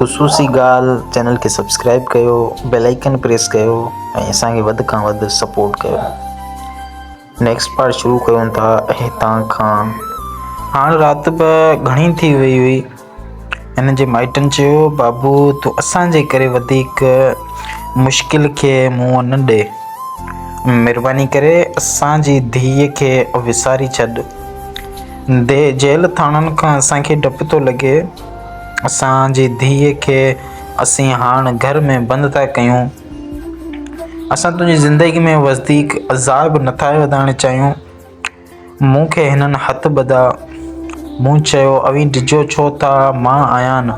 خصوصي ڳالهه چينل کي سبسڪرائب ڪيو بيل آئيڪن پريس ڪيو ۽ اسان کي وڌ کان وڌ سپورٽ ڪيو نيڪسٽ پارٽ شروع ڪيون ٿا هتان کان هاڻ رات به گهڻي ٿي وئي هئي هن جي مائٽن چيو بابو تو اسان جي ڪري وڌيڪ مشڪل کي منهن نه ڏي مهرباني ڪري اسان جي ڌيء کي وساري ڇڏ دي جيل ٿاڻن کان اسان کي ڊپ ٿو لڳي اسان جي ڌيء کي اسين هاڻ گهر ۾ بند ٿا ڪيون. اسان تنهنجي زندگيء ۾ وڌيڪ عذاب نٿا وڌائڻ چاهيون. مون کي هنن هٿ ٻڌا. مون چيو، اوهين ڊڄو ڇو ٿا، مان آهيان نه.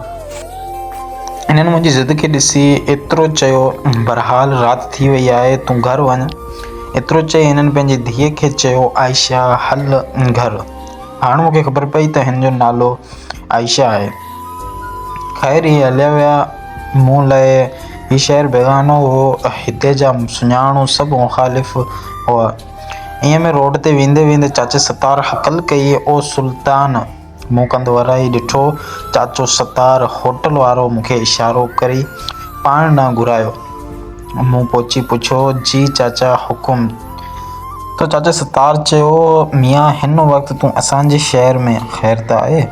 هنن منهنجي ضد کي ڏسي ايترو چيو، بهرحال رات ٿي وئي آهي، تون گهر وڃ. ايترو چئي هنن پنهنجي ڌيء کي چيو، عائشه، هل گهر. هاڻ مون کي خبر پئي ته هن جو نالو. عائشه آهي. خير هي هليا ويا. مون لاء هي شهر بيگانو هو. هتي جا سڃاڻو سڀ مخالف هئا. ايئن ۾ روڊ تي ويندي ويندي چاچي ستار هڪل ڪئي، او سلطان! مون ڪنڌ ورائي ڏٺو. چاچو ستار هوٽل وارو مون کي اشارو ڪري پاڻ ڏانهن گهرايو. مون پهچي پڇيو، جي چاچا حڪم. ته چاچا ستار چيو، ميان هن وقت تون اسان جي شهر ۾ خير ته آهي؟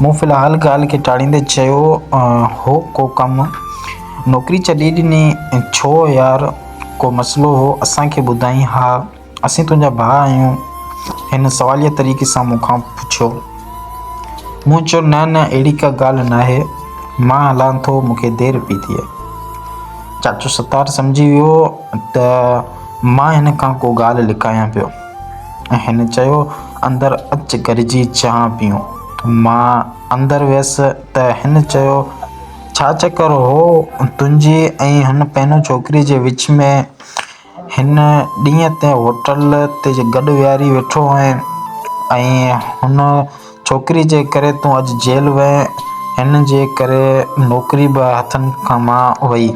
مون في الحال ڳالهه کي ٽاڙيندي چيو، هو ڪو ڪم؟ نوڪري ڇڏي ڏني؟ ڇو يار ڪو مسئلو هو اسان کي ٻڌائين ها اسين تنهنجا ڀاء آهيون هن سواليه طريقي سان مون کان پڇيو. مون چيو نه نه اهڙي ڪا ڳالهه ناهي مان هلان ٿو مون کي دير پي ٿئي. چاچو ستار سمجهي ويو ته مان هن کان ڪو ڳالهه لڪايان پيو ۽ هن چيو اندر اچ گڏجي چانهه پيئون. مان اندر ويس ته هن چيو ڇا چڪر هو تنهنجي ۽ هن پينو ڇوڪري جي وچ ۾. هن ڏينهن تي هوٽل تي گڏ ويهاري ويٺو هئين ۽ هن ڇوڪري جي ڪري تون اڄ جيل وئين، هن جي ڪري نوڪري به هٿن مان وئي.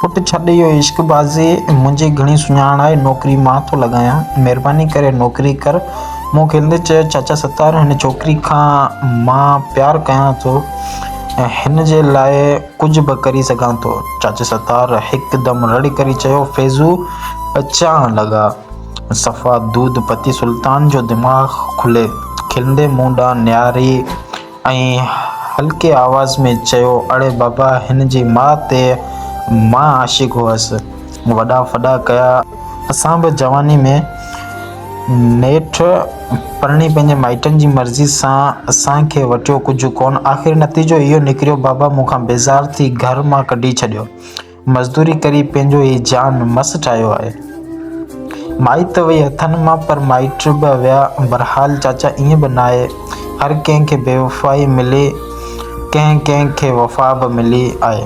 پٽ ڇڏ اهو عشق بازي، منهنجي گهڻي سڃاڻ آهي، نوڪري مان ٿو لڳايان، مهرباني ڪري نوڪري ڪر. مون کلندي چيو، چاچا ستار هن ڇوڪري کان مان پيار ڪيان ٿو، هن جي لاء. ڪجهه به ڪري سگهان ٿو. چاچي ستار هڪدم رڙ ڪري چيو، فيضو پچائڻ لڳا. صفا دود پتي سلطان جو دماغ کلي. کلندي مون ڏانهن نهاري ۽ هلڪي آواز ۾ چيو، اڙي بابا هن جي ماء تي مان عاشق هئس. وڏا ڦڏا ڪيا. اسان به جواني ۾. نيٺ پرڻي پنهنجي مائٽن جي مرضي سان اسان کي وٽيو ڪجهه ڪونه. آخر نتيجو اهو نڪريو بابا مون کان بيزار ٿي گهر مان ڪڍي ڇڏيو. مزدوري ڪري پنهنجو هي جان مس ٺاهيو آهي. مائي ته وئي هٿن مان پر مائٽ به ويا. بهرحال چاچا ائين به ناهي هر ڪنهن کي بيوفائي ملي ڪنهن ڪنهن کي وفا به ملي آهي.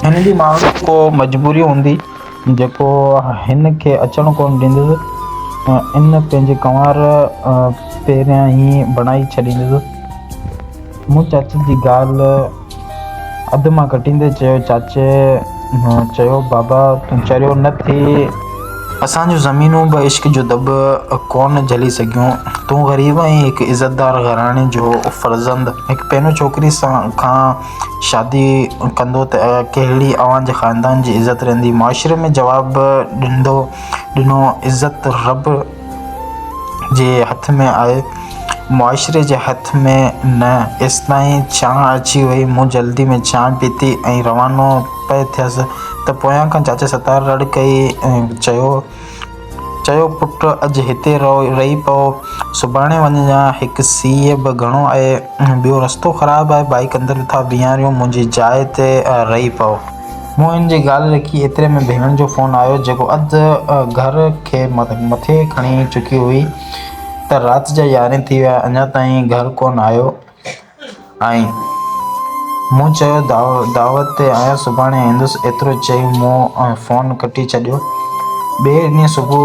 هن جي ماڻهن جي ڪو مجبوري هوندي. جيڪو هن کي اچڻ ڪونه ڏيندس ۽ ان پنهنجي ڪنوار پهريان ئي بڻائي ڇڏيندس. مون چاچي جي ڳالهه اڌ مان ڪٽيندي چيو، چاچي چيو، بابا تون چريو نه ٿي. اسان جون زمينون به عشق جو دٻ ڪونه جهلي سگهيون. تون غريب ۽ هڪ عزتدار گهراڻي جو فرزند هڪ پينو ڇوڪري کان شادي ڪندو ته ڪهڙي اوهان جي خاندان جي عزت رهندي؟ معاشري ۾ جواب ڏندو ڏنو عزت رب جي هٿ ۾ آهي معاشري جي هٿ ۾ نه ايستائين ڇانء اچي وئي مون جلدي ۾ چانهه پيتي ۽ روانو پئي ٿيس ته پويان کان چاچي ستار رڙ ڪئي ۽ چيو. چيو پٽ اڄ هتي رهي پئو سڀاڻي وڃجان هڪ سيء به گهڻو آهي ٻيو رستو خراب آهي بائيڪ اندر ٿا بيهاريون منهنجي جاء تي رهي پئو. موهن جي ڳالهه رکي ايتري ۾ ڀيڻ جو فون آيو جيڪو اڌ گهر کي مٿي کڻي چڪي هئي ته رات جا يارهين ٿي ويا اڃا تائين گهر ڪونه آيو. آئين. مون چيو دعوت تي آيس سڀاڻي ايندس ايترو چئي مون فون ڪٽي ڇڏيو. ٻئي ڏينهن صبح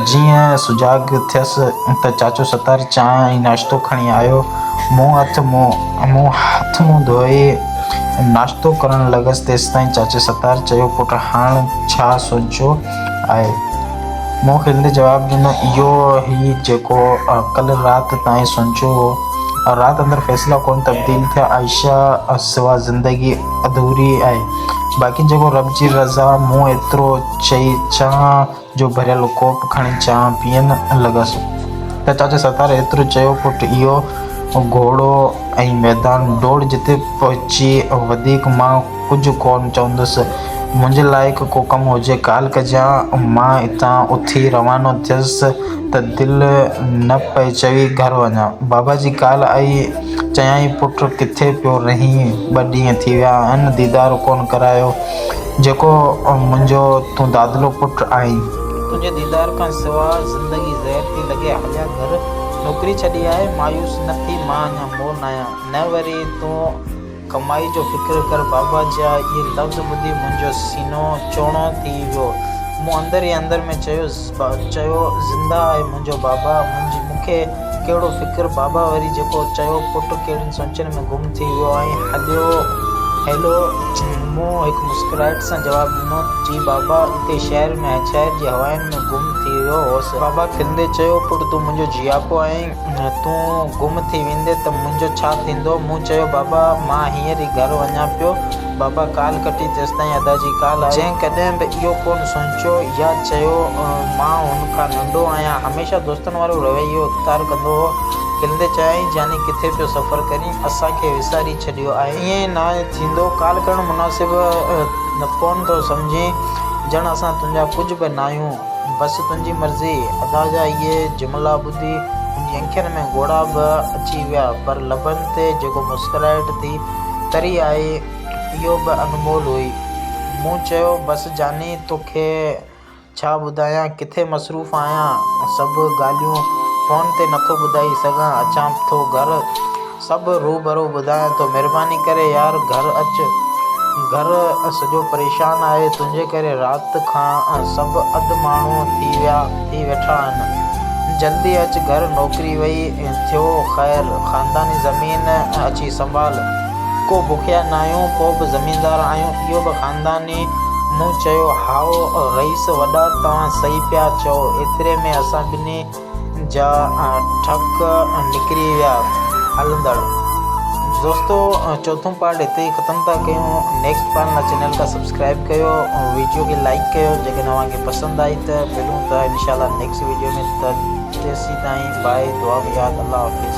جيئن سجاڳ ٿيس ته چاچو ستار چانهه ۽ ناشتو کڻي آيو مون هٿ منهن ڌوئي ناشتو ڪرڻ لڳس تيستائين چاچي ستار چيو پٽ هاڻ ڇا سوچيو آهي؟ مون کلندي جواب ڏنو، اهو هي جيڪو ڪلهه رات تائين سوچيو هو. رات اندر فيصلا ڪونه تبديل ٿيا. عائشه سوا زندگي اڌوري آهي. باقي جيڪو رب جي رضا. مون ايترو چئي چانهه جو ڀريل ڪوپ کڻي چانهه پيئڻ لڳس ته چاچي ستار ايترو چيو، پٽ اهو گهوڙو ۽ ميدان ڊوڙ جتي پهچي وڌيڪ مان ڪجهه ڪونه چوندس. منهنجي لائق ڪو ڪم هجي ڪال ڪجان. مان اتان اٿي روانو ٿيس ته دل نه پئي چوي گهر وڃان. بابا جي ڪال آئي. چيائين پٽ ڪٿي پيو رهين؟ ٻه ڏينهن ٿي ويا آهن ديدار ڪونه ڪرايو. جيڪو منهنجو تون دادلو پٽ آهين. تنهنجي ديدار کان سواء زندگي زهر ٿي لڳي. هليا گهر. نوڪري ڇڏي آء مايوس نه ٿي. مان اڃا مور ناهيان. نه وري تون ڪمائي جو فڪر ڪر بابا جا اهي لفظ ٻڌي منهنجو سينو چوڻو ٿي ويو. مون اندر ئي اندر ۾ چيو چيو زنده آهي منهنجو بابا منهنجي مون کي ڪهڙو فڪر بابا وري جيڪو چيو پٽ ڪهڙين سوچن ۾ گم ٿي ويو آهين هليو هيلو مون هڪ مسڪرائٽ سان جواب ڏنو جي بابا اتي شهر ۾ شهر جي هواين ۾ گم ٿي ويو هوس. بابا کلندي چيو پٽ تون منهنجو جياپو آهين. تون گم ٿي ويندين ته منهنجو ڇا ٿيندو؟ مون چيو، بابا، مان هينئر ئي گهر وڃان پيو. بابا ڪال ڪٽي تيستائين ادا جي ڪال آئي. جنهن ڪڏهن به اهو ڪونه سوچيو يا چيو ته مان هن کان ننڍو آهيان، هميشه دوستن وارو رويو اختيار ڪندو هو، کلندي چيائين، جاني ڪٿي پيو سفر ڪرين، اسان کي وساري ڇڏيو آهين. ائين نه ٿيندو، ڪال ڪرڻ مناسب ڪونه ٿو سمجهين، ڄڻ اسان تنهنجا ڪجهه به ناهيون. بس تنهنجي مرضي. ادا جا اهي جملا ٻڌي. ٿي، هن جي اکين ۾ ڳوڙها به اچي ويا، پر لبن تي جيڪو مسڪرائٽ ٿي تري آئي، اهو به انمول هئي. مون چيو، بس جاني، تو کي ڇا ٻڌايان، ڪٿي مصروف آهيان، سڀ ڳالهيون فون تي نٿو ٻڌائي سگهان، اچان ٿو گهر. سڀ روبرو ٻڌايان ٿو. مھرباني ڪري يار گهر اچ. گهر سڄو پريشان آهي. تنهنجي ڪري رات کان سڀ اڌ ماڻهو ٿي ويا ٿي ويٺا آهن. جلدي اچ گهر نوڪري وئي ٿيو خير. خانداني زمين اچي سنڀال. ڪو بکيا ناهيون پوء به زميندار آهيون اهو به خانداني مون چيو هائو رئيس وڏا توهان صحيح پيا چئو ايتري ۾ اسان ٻنهي جا ٺڪ نڪري ويا هلندڙ دوستو چوٿون پارٽ هتي ئي ختم ٿا ڪيون نيڪسٽ پارٽ لاء چينل کي سبسڪرائب ڪيو ۽ ويڊيو کي لائڪ ڪيو جيڪڏهن اوهان کي پسند آئي ته ملون ٿا انشاء الله نيڪسٽ ويڊيو ۾ ته تيسين تائين باء دعا ۾ ياد الله حافظ